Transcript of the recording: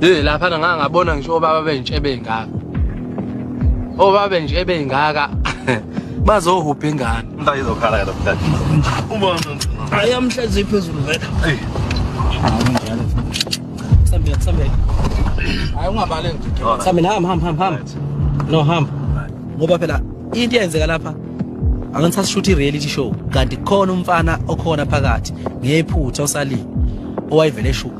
Hey lapha nganga ngabona ngisho baba benje bengaka. Obaba benje bengaka. Bazohupha ingane. Mntaka izokhala ke lapha. Uma ayamhlezi phezulu vele. Hey. Sambia sambia. Hayi ungabale nje. Sambia hamba hamba hamba hamba. No hamba. Ngoba phela into yenzeka lapha angisas shoot i reality show kanti khona umfana okhona phakathi ngephutha osalile owayivele eshuka